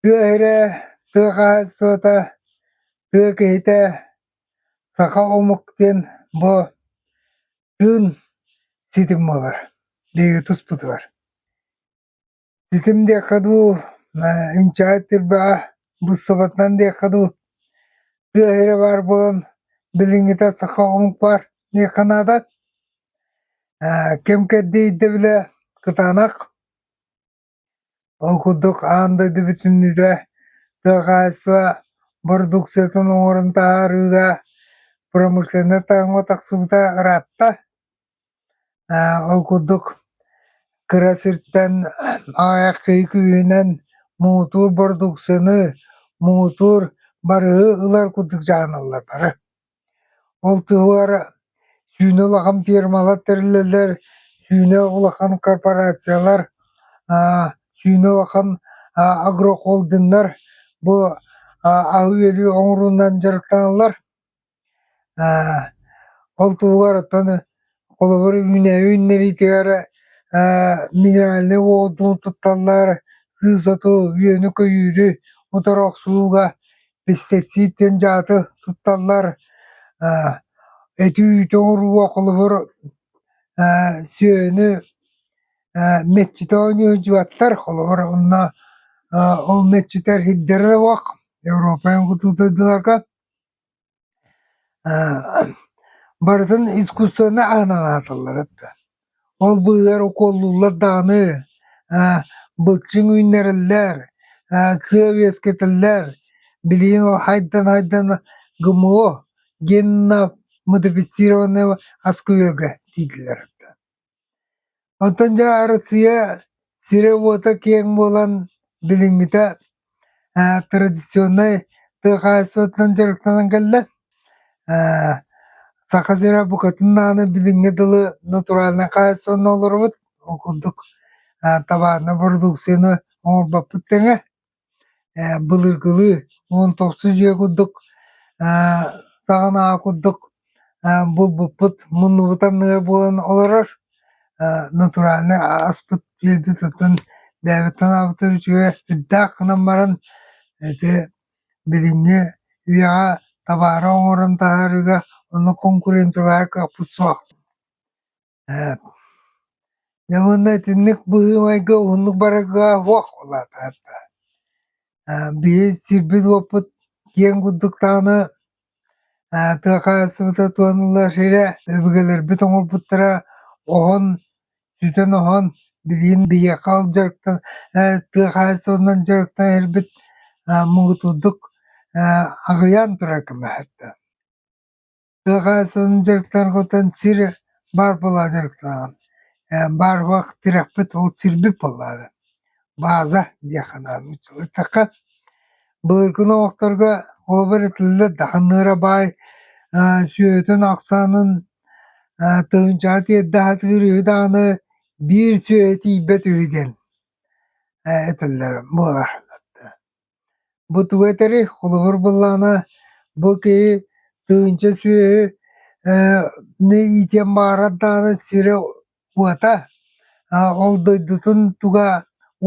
Тыа иһирэ, тыа хаһаайыстыбата, тыа киһитэ саха омук диэн бу тыын ситим буолар биһиги туспутугар. Ситим диэххэ дуу, инчэҕэс тирбэҕэ быссабатынан диэххэ дуу, тыа иһирэ баар буолан билиҥҥитэ саха омук баар диэххэ наада. Ким кэрдии ирдэбилэ кытаанах. Ол курдук аан дойду бүтүннүүтэ тыа хаһаайыстыба бородууксуйатын оҥорон таһаарыыга промышленнай таҥаҕа тахсыбыта ыраатта. Ол курдук кыра сиртэн аҕыйах киһи күүһүнэн муҥутуур бородууксуйаны муҥутуур барыһы ылар курдук дьаһаналлар бары. Ол туһугар сүүнэ улахан фирмалар тэриллэллэр, сүүнэ улахан корпорациялар, сүүнэ улахан агрохолдиннар бу аһы-үөлү оҥоруунан дьарыктаналлар. Ол туһугар оттон Холобур, үүнээйи үүннэриитигэр эрэ минеральнай уоту тутталлар, сыыс оту, үөнү-көйүүрү утары охсууга пестицид диэн дьааты тутталлар. Эти-үүтү оҥорууга холобур сүөһүнү мэтчити оонньуулдьубаттар, холобур онно ол мэтчитэр иһирдэрэ да буолуох, Европа ботуутуйдуларга барытын искусствоны аанан ааталлар да ол быыһыгар укуоллууллар даҕаны былчыҥ үүннэрэллэр сыа үөскэтэллэр билигин ол хайдан хайдан гмо генно модифицированное оскуэлга дииллэр Онтон дьэ Арассыыйа сирэ-уота киэҥ буолан билиҥҥитэ традиционнай тыа хаһаайыстыбатынан дьарыктанан кэллэ. Саха сирэ букатын даҕаны билиҥҥи дылы натуральнай хаһаайыстыбанан олоробут, ол курдук табаарынай бородууксуйаны оҥорбоппут тэҥэ. былыргылыы уон тохсус дьиэ курдук саҕан аҕа курдук булбуппут муннубут анныгар буолан олорор натуральнай ааспыт үөлбүт оттон бэйэбиттэн аабыттар үчүгэй үрдээх гынан баран ити билиҥҥи үйэҕэ табаары оҥорон таһаарыыга онно конкуренциялаһар кыахпыт суох Дьэ уонна итинник быһыы-майгы уһуннук барарга уох улаатар да. Биһи сирбит-уоппут киэҥ курдук даҕаны тыа хаһаайыстыбата туһаныллар сирэ өбүгэлэрбит оҥорбуттара оһон, сүтэн-оһон билигин биһиэхэ ол дьарыктан тыа хаһаайыстыбатынан дьарыктанан иһэрбит муҥутурдук аҕыйаан турар көмөһө да. Саха сылын дьарыктаргытын сир баар буолаҕа дьарыктанан. Э, Баар буолаах тирэхпит ол сирбит буоллаҕа. Бааза диэх анаан ыччаттахха. Былыргы олохторго холобур этиллэ дахыныра баай э, сүөһүтүн ахсаанын э, тыһынчаҕа тиэрдэхэтигэр үһү даҕаны биир сүөһү тиийбэт үһү диэн э, этэллэр буолар. Бу тугу этэй, холобур буоллаҕына, бу киһи тыһыынча сүөһү ээ иитиэн баҕарар даҕаны сирэ уота ол дойдутун туга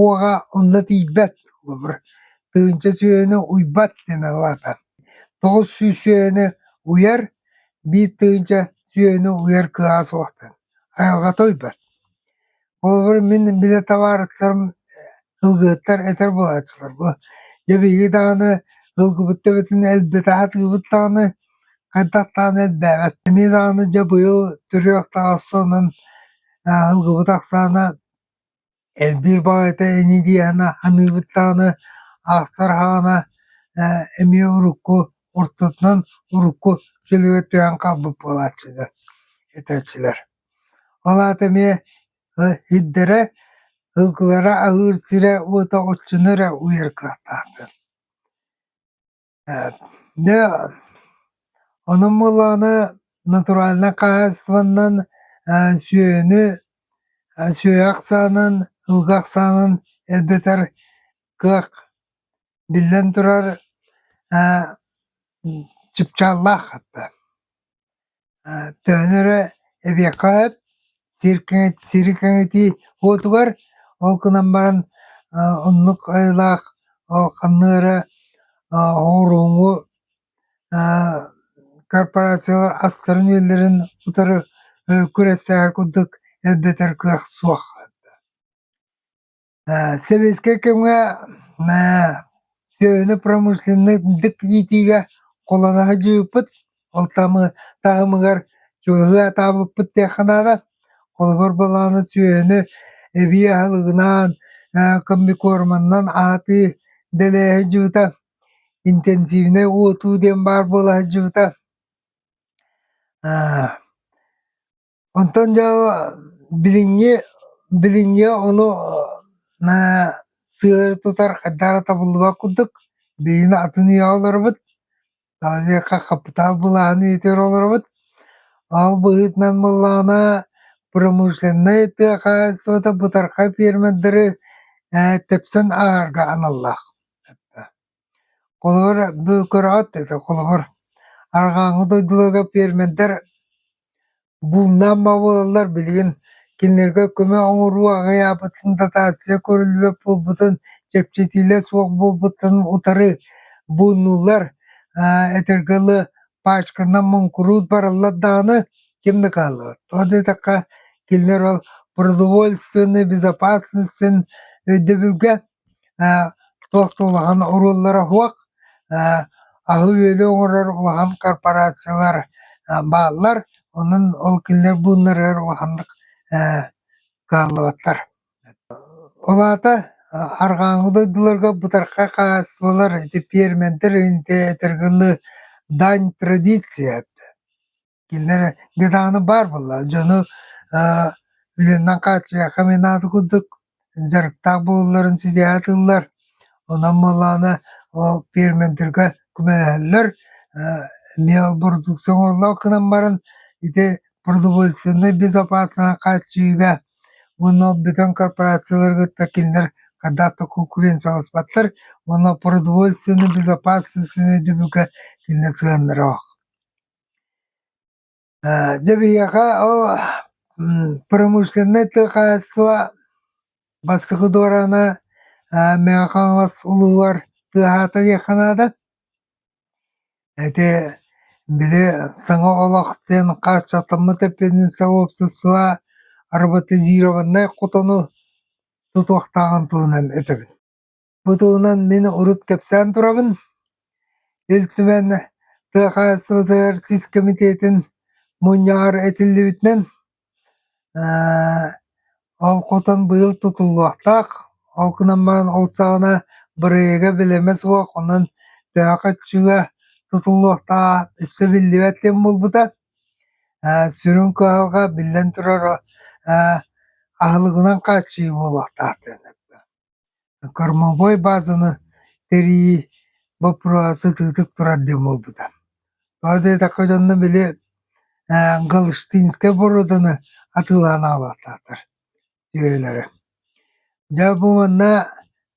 уоҕа онно тиийбэт холобур тыһыынча сүөһүнү уйбат диэн аҕалаата. Тоҕус сүүс сүөһүнү уйар биир тыһыынча сүөһүнү уйар кыаҕа суох диэн айылҕата уйбат. Холобур, мин били табаарыстарым ылгыһыттар этэр буолааччылар бу дьэ биһиги даҕаны ылгыбыт төбөтүн элбэтэ атыыбыт даҕаны хайдах даҕаны элбээбэт. Эмиэ даҕаны дьэ быйыл төрүөх таҕыс сонун ылгыбыт ахсаана элбиир баҕайыта ини диэһинэ аныыбыт даҕаны аахсар аһаҕана эмиэ урукку ортотунан урукку чөлүгэр түһэн хаалбыт буолааччы этээччилэр Ол аата эмиэ иһирдэрэ, ылгылара аһыыр сирэ уота оччону эрэ уйар кыахтаахтар дьэ онон буоллаҕына натуральнай хаһаайыстыбаннан сүөһүнү сүөһү ахсаанын ылгы ахсаанын элбэтэр кыах биллэн турар чыпчааллаах Төһөнү эрэ эбиэххэ сөп, сир кэҥэт сири кэҥэтии уотугар, ол гынан баран оннук айылаах ханна эрэ оҕуруоҥу корпорациялар астарын-үөллэрин утары күрэстээхэр курдук элбэтэр кыах суох. Сэбиэскэй кэмҥэ сүөһүнү промышленнайдык иитиигэ куланаһы дьуйуппут, ол таһымыгар чугаһы атаабыппыт диэххэ наада. Холобур буолаары сүөһүнү эбии аһылыгынаан, комбикорманнан аатыы дэлээһи дьуута, интенсивнэй уотуу диэн баар буола сылдьыбыта. Онтон дьэ билиҥҥи билиҥҥи ону ээ сыары тутар хайдах эрэ табыллыбат курдук билигин атын үйэҕэ олоробут диэххэ хапытаал былааһын иитэр олоробут ол быһыытынан буоллаҕына промышленнай тыа хаһаайыстыбата бытархай пиэрмэрдэри ээ тэпсэн аҕарга аналлаах Холобур, бөкүрэҕит это холобур, арҕааҥҥы дойдуларга пиэрмэрдэр бууннаан бобуллаллар билигин кинилэргэ көмө оҥоруу аҕыйаабытын дотация көрүллүбэт буолбутун чэпчэтиилэр суох буолбутун утары бууннуллар этэргэ дылы пачканан муҥкурууд бараллар даҕаны ким да хааллыбат ол да диэтэххэ кинилэр ол продовольственнай безопасность өйдөбүлгэ туох да улахан оруоллара суох аһы-үөлү оҥорор улахан корпорациялар бааллар онон ол кинилэр бууннарыгар улаханнык кыаллыбаттар ол аата арҕааҥҥы дойдуларга бытархай хаһаайыстыбалар ити пиэрмэнтэр иһин этэргэ дань традиция Кинилэр гедааны баар буолла. Дьону э, үлэннэн хааччыйыахха эмиэ наада курдук дьарыктаах буолулларын ситиһэ атыыллар. Онон буоллаҕына ол пиэрмэнтэргэ көмөлөһөллөр. Э, Леопродукция оҥороллоох гынан баран ити продовольственнай безопасность хааччыйыыга уонна ол бүтүн корпорациялары кытта кинилэр хайдах да конкуренцияласпаттар уонна продовольственнай безопасность өйдөбүлгэ кинилэр сыһыаннара ох Дьэ биһиэхэ ол промышленнай тыа хаһаайыстыба бастакы дуораана Мэҥэ Хаҥалас улууһугар тыаһаата диэххэ наада. Ити били саҥа олох диэн хааччахтаммыт эппиэтинэсэ уопсастыба роботизированнай хотону тутуохтааҕын туһунан этэбин. Бу туһунан мин урут кэпсээн турабын. Ил Түмэн тыа хаһаайыстыбатыгар сис кэмитиэтин мунньаҕар этиллибитинэн, ол хотон быйыл тутуллуохтаах. Ол гынан баран ол саҕана бырайыага бэлэмэ суох, онон төһө көччүүгэ тутуллуохтааҕа өссө биллибэт диэн буолбута. Сүрүн кыһалҕа, биллэн турар, аһылыгынан хааччыйыы буолуохтаах диэн эттэ. Кормовой базаны тэрийии боппуруоһа сытыытык турар диэн буолбута. Тоҕо диэтэххэ дьонно били ээ Галштинскай боруоданы атыылаан аалаахтаахтар сүөһүлэрэ. Дьэ бу манна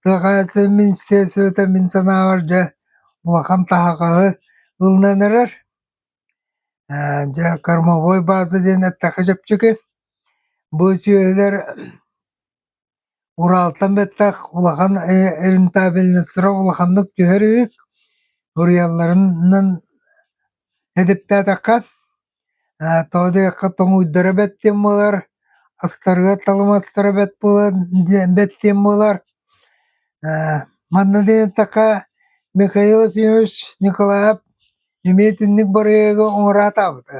тыа хаһаайыстыба министерствота мин санаабар дьэ улахан таһаҕаһы ылынан эрэр. Ээ дьэ кормовой база диэн эттэххэ чэпчэки. Бу сүөһүлэр Ураалтан бэттэх улахан рентабельностьлара улаханнык түһэр үһү, уруйалларынан эдэптээтэххэ, тоҕо диэтэххэ тоҥуйдара бэт диэн буолар, астарыга талымастара бэт буолан бэт диэн буолар. Манна диэтэххэ Михаил Ефимович Николаев эмиэ итинник барыйыагы оҥороотаабыта.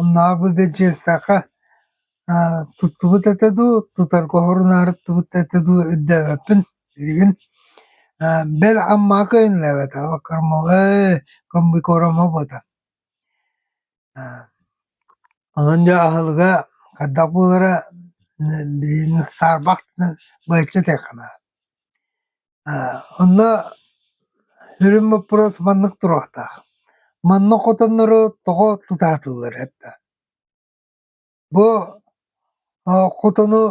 Оннооҕу да дьыссаха туттубут этэ дуу, тутарга хорунаартыбыт этэ дуу өйдөөбөппүн билигин. Бэл Аммаҕа көйөннөөбөтө, ол кормовой комбикором хобото. Онон дьэ аһылыга хайдах буолара билигин саарбах гынан быһаччы этиэх ханаа. Онно сүрүн боппуруос маннык туруохтаах: манна хотоннору тоҕо тутаатыллар эрдэ? Бу хотону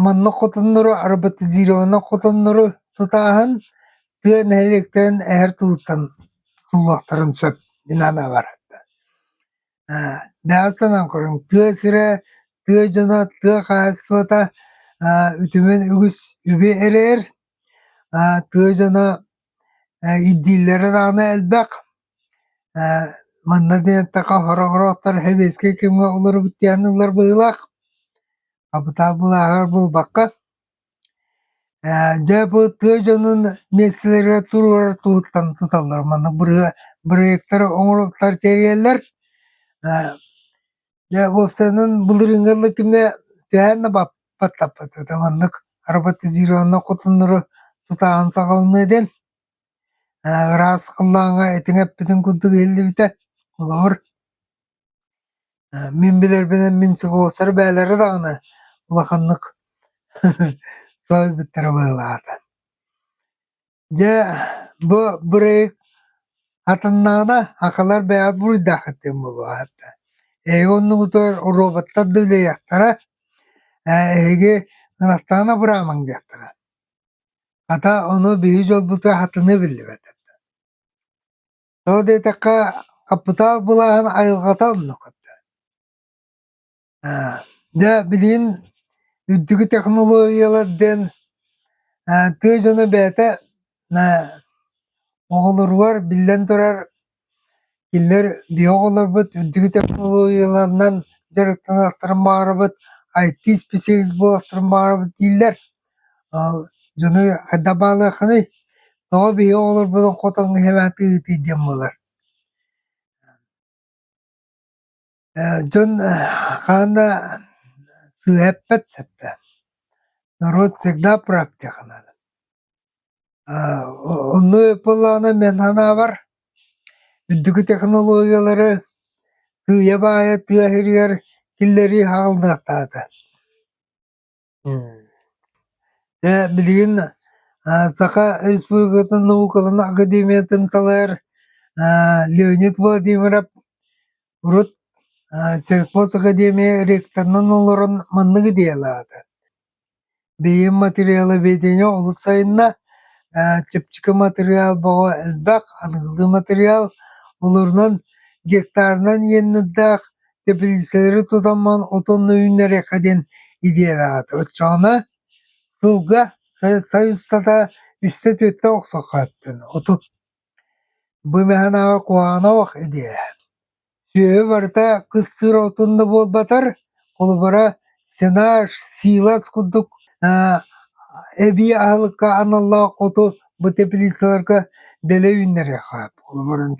манна хотоннору роботизированный хотоннору тутааһын тыа нэһилиэктэрин эһэр тылыттан тутуллуохтарын сөп дии санаабар. Бэҕэ санаан көрүҥ, тыа сирэ, тыа дьоно, тыа хаһаайыстыбата үтүмэн үгүс үбү эрэр. Тыа дьоно ирдииллэрэ даҕаны элбэх. Манна дэниэтэххэ хороҕроттор сэбиэскэй кэмҥэ олорбут диэн ыллар быһыылаах. Хапытаал былааһыгар булбакка Ээ дьэ бу тыа дьонун миэстэлэригэр туруорар туһуттан туталлар. Маннык бырыһа бырайыактары оҥороллор тэрийэллэр. Ээ дьэ уопсайынан былырыыҥҥы ылла кэмнэ түһээн да баппаттаппат этэ. Маннык роботизированнай хотоннору тутааһын саҕаланыа диэн. Ээ ыраас халлааҥҥа этиҥ эппитин курдук иһиллибитэ. Холобур Э, мин билэрбинэн мин сокуоластары бээлэрэ даҕаны улаханнык соо билбиттэрэ быһыылаата. Дьэ бу бырайыак атыннаҕына акылар бэйэҕит буруйдааххыт диэн буолуо аата. Эһиги оннугутугар роботтар да үлэлиэхтэрэ, э эһиги ынахтаҕына абыраамаҥ диэхтэрэ. Хата ону биһиги дьолбутугар хатаныы биллибэт этэ. Тоҕо диэтэххэ, хаппытаал былааһын айылҕата оннук это. Аа, дьэ билигин үрдүкү технологиялар диэн аа, тыа дьоно бэйэтэ аа, оҕолоругар биллэн турар киллэр биһиги оҕолорбут үрдүкү технологияларынан дьарыктанартарын баҕарабыт, IT исписэлиис буолартарын баҕарабыт дииллэр. дьону хайдах баалыаххыный тоҕо биһи оҕолорбутун хотоҥҥо иһэбээт ыытый диэн буолар дьон хаан да сыыһа эппэт сөптөөх норуот всегда практика наада онно ыпыллаҕына мен санаабар үрдүкү технологиялары сыыйа баайа тыа сиригэр киллэрии хаалынахтаата Дьэ билигин Саха Республикатын наукаларын академиятын салайар Леонид Владимиров урут Сельхоз академия ректорынан олорон маннык идеялаата: Бэйэм материаловедение олус сайынна, чэпчэки матырыйаал бөҕө элбэх, аныгылыы матырыйаал олорунан гектарынан иэннэрдээх тэпилиискэлэри тутаммын отонно үүннэриэххэ диэн идиэлээтэ оччоҕуна сылга сайыстата үстэ түөртэ охсоххо эттин отут бымэһэнээҕи куһаанах идиэ сүөһү барыта кыстыыр отун да буолбатар холобура сенаж силас курдук эбии аһылыкка аналлаах оту бу тэпилииссэлэргэ дэлэй үүннэриэхэ холобуран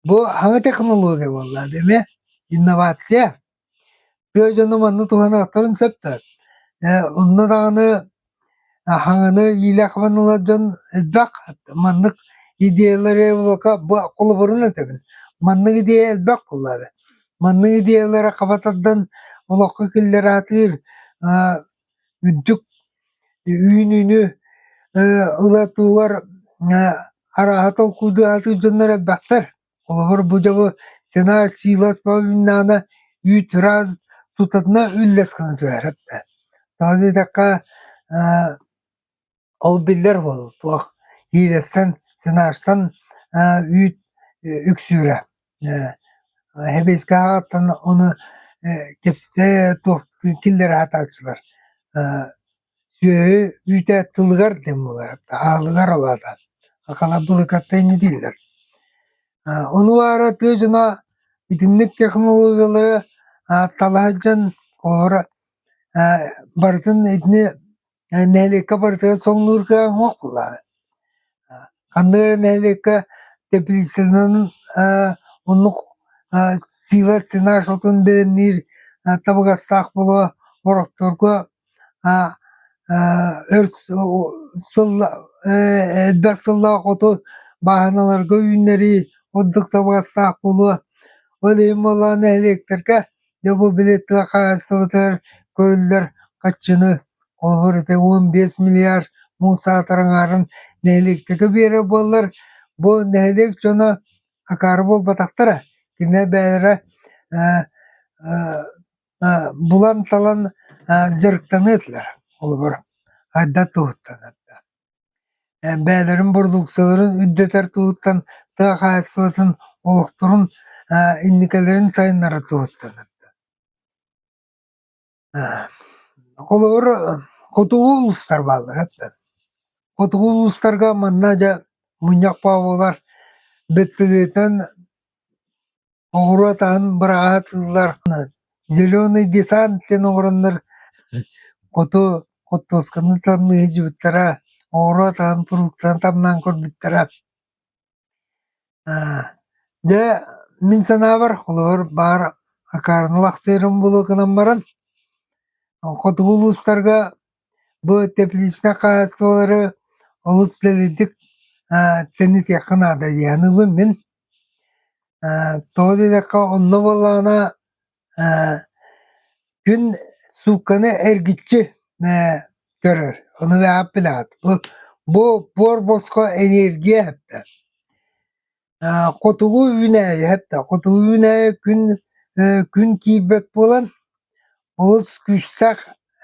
Бу аһы технология буоллаҕа дии эмиэ инновация. Тыа дьоно манна туһаныахтарын сөптө. Э, онно даҕаны аһаҕаны иилээх-хабан ылар дьон элбэх. Маннык идеялары буолка бу холобурун этэбин. Маннык идея элбэх буоллаҕа. Маннык идеялары хабатардан олоххо киллэратыыр э Үрдүк үүнүүнү ылатыылар арааһа толкуйдаан сылдьаннар элбэхтэр. Холобур, бу дьоҕу сценарий сыылас повиннаана үүт раз тутатына үллэс гынан түһээрэт да. Даҕаны диэтэххэ Ол биллэр буолуо туох Лиилэстэн, Сенажтан үүт үксүүрэ. Сэбиэскэһэҕиттэн ону кэпсэтэ туох киллэрэ сатааччылар. Сүөһү үүтэ тылыгар диэн буолара, аалыгар алаата. Халабылыкаттан инньэ дииллэр. Ону баара тыа дьоно итинник технологиялары талаһа сылдьан, холобура, барытын итини нэһилиэккэ барытыгар соҥнуурга оҥоһулла. Ханнык нэһилиэккэ теплицанан оннук сила цена шотун бэлэмниир табыгастаах буолуо борохторго өр сыл элбэх сыллаах оту бааһыналарга үүннэрии ордук табыгастаах буолуо. Ол иһин буоллаҕына нэһилиэктэргэ дьэ бу били тыа хаһаайыстыбатыгар көрүллэр хаччыны холобур ити уон биэс миллиард муус аатар аҥаарын нэһилиэктэргэ биэрэр буоллар бу нэһилиэк дьоно акаары буолбатахтара кинилэр бэйэлэрэ булан талан дьарыктаныа этилэр холобур хайда туһуттан бэйэлэрин бородууксаларын үрдэтэр туһуттан тыа хаһаайыстыбатын олохторун инникилэрин сайыннара туһуттанар холобур хотугу улуустар бааллара хотугу улуустарга манна дьэ мунньах баобулар бэттилиэтинэн Оҕуруо атаһын быраҕаатыыллар, зеленый десант диэн оҥороннор хоту хортуосканы тамныы сылдьыбыттара, оҕуруо атаһын фруктаны тамнаан көрбүттэрэ. Дьэ, мин санаабар, холобур, баар акаарынылаах сыырым буолуо гынан баран, хотугу улуустарга Бу тепличнай хаһаайыстыбалары олус дэлэйдик тэнитиэххэ наада диэн аныыбын мин. Тоҕо диэтэххэ онно буоллаҕына күн суукканы эргиччи көрөр. Ону үөһэҕэ билэҕит. Бу буор босхо эниэргийэ сөптөөх. Э, хотугу үүнээйи этэ. Хотугу үүнээйи күн, э, күн киирбэт буолан, олус күүстээх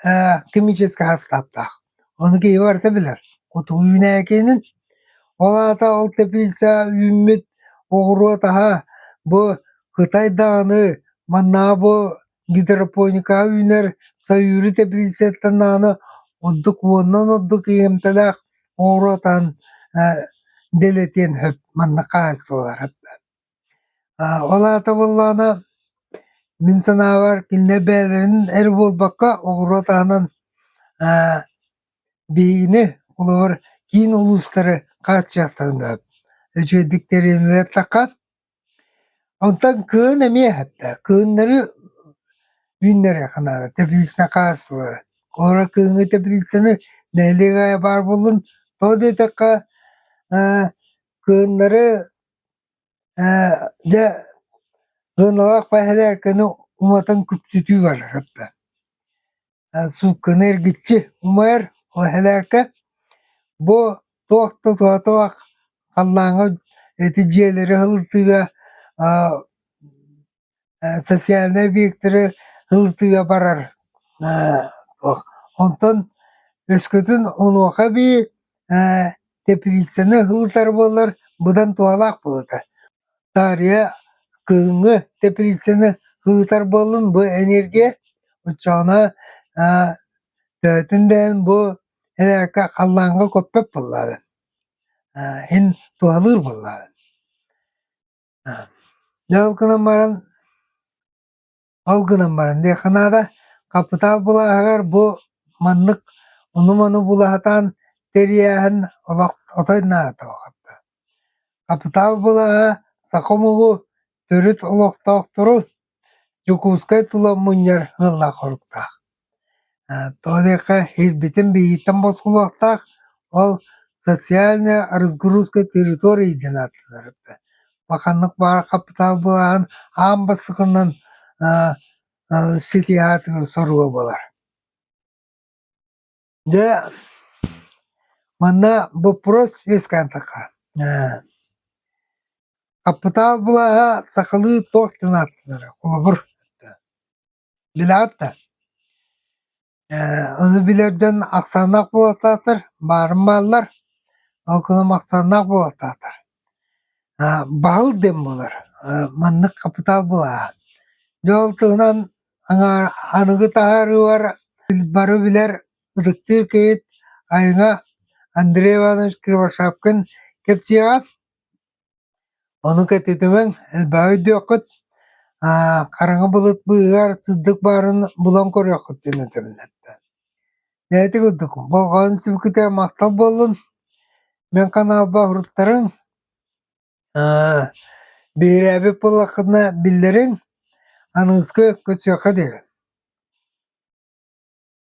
э, химическэй састааптаах. Ону киһи барыта билэр. Хотугу үүнээйи киһинин. Ол аата ол тэпиисэ үүммүт оҕуруот аһа бу Кытай даҕаны манна бу гидропоника үүнэр Сайыыры тэпилииссэттэн аана ордук уоннан ордук иһимтэлээх оҕуруо атаан дэлэтиэн сөп манна хааччыллар ол аата буоллаҕына мин санаабар кинилэр бэйэлэрин эр буолбакка оҕуруо атаанан биһигини холобур киин улуустары хааччыахтарын сөп үчүгэйдик тэринэллэр Онтон кыһын эмиэ эрдэ, кыһыннары үүннэриэххэ наада, тэпилииссэ хаалсыбыттара. Куорат кыһыҥҥы тэпилииссэни нэһилиэк аайы баар буоллун, тоҕо да диэтэххэ ээ кыһыннары ээ дьэ сыаналаах бэһэлээркэни уматан күпсүтүү барар эрдэ суукканы эргиччи умайар ол иһэлээркэ бу туох да тоотоох халлааҥҥа эти дьиэлэри ылытыыга социальнай объектары ылытыыга барар онтон өскөтүн онуоха эбии тэпилииссэни ылытар буоллар быдан туһалаах буолуо этэ Таарыйа кыһыҥҥы тэпилииссэни ыытар буоллун бу эниэргийэ оччоҕуна төһөтүн да иһин бу эрээри халлааҥҥа көппөт буоллаҕына иһин туһалыыр буоллаҕына дьэ ол гынан баран Ол гынан баран диэххэ наада, хапытаал былааһыгар бу маннык ону-маны булаһатаан тэрийээһин олох отой наадата улаатта. Хапытаал былааһа саха омугу төрүт олохтоохтору Дьокуускай тула мунньар ыаллаах-хоруктаах. Тоҕо диэххэ иһирбитин биэрииттэн босхолуохтаах, ол социальная разгрузка территории диэн ааттанар эбит. Бу ханнык баар хапытаал былааһын аан бастакынан сити аатыгар соруга буолар. Дьэ, манна боппуруос вискантахха, хапытаал былааһа сахалыы туох диэн ааттанара, холобур. Билэҕит да, ээ ону билэр дьон ахсааннаах буолсаатар баарын бааллар, ол гынан ахсааннаах буолсаатар аа баһыл диэн буолар аа маннык хапытаал былааһа. Дьэ ол туһунан аҥаар аныгы таһаарыылар бары билэр ытыктыыр киһит айыҥа Андрей Иванович Кривошапкин кэпсиэҕэ. Ону кэтитимэҥ, элбэҕи өйдүөххүт, хараҥа былыт быыһыгар сырдык баарын булан көрүөххүт диэн өтөбүннэрдэ. Дээти курдук, болҕойон сүбүкүтэр махтал буоллун. Мин ханаалба уруттарыҥ, биһирээбит буоллаххытына биллэриҥ, аныыска көтсүөххэ диэри.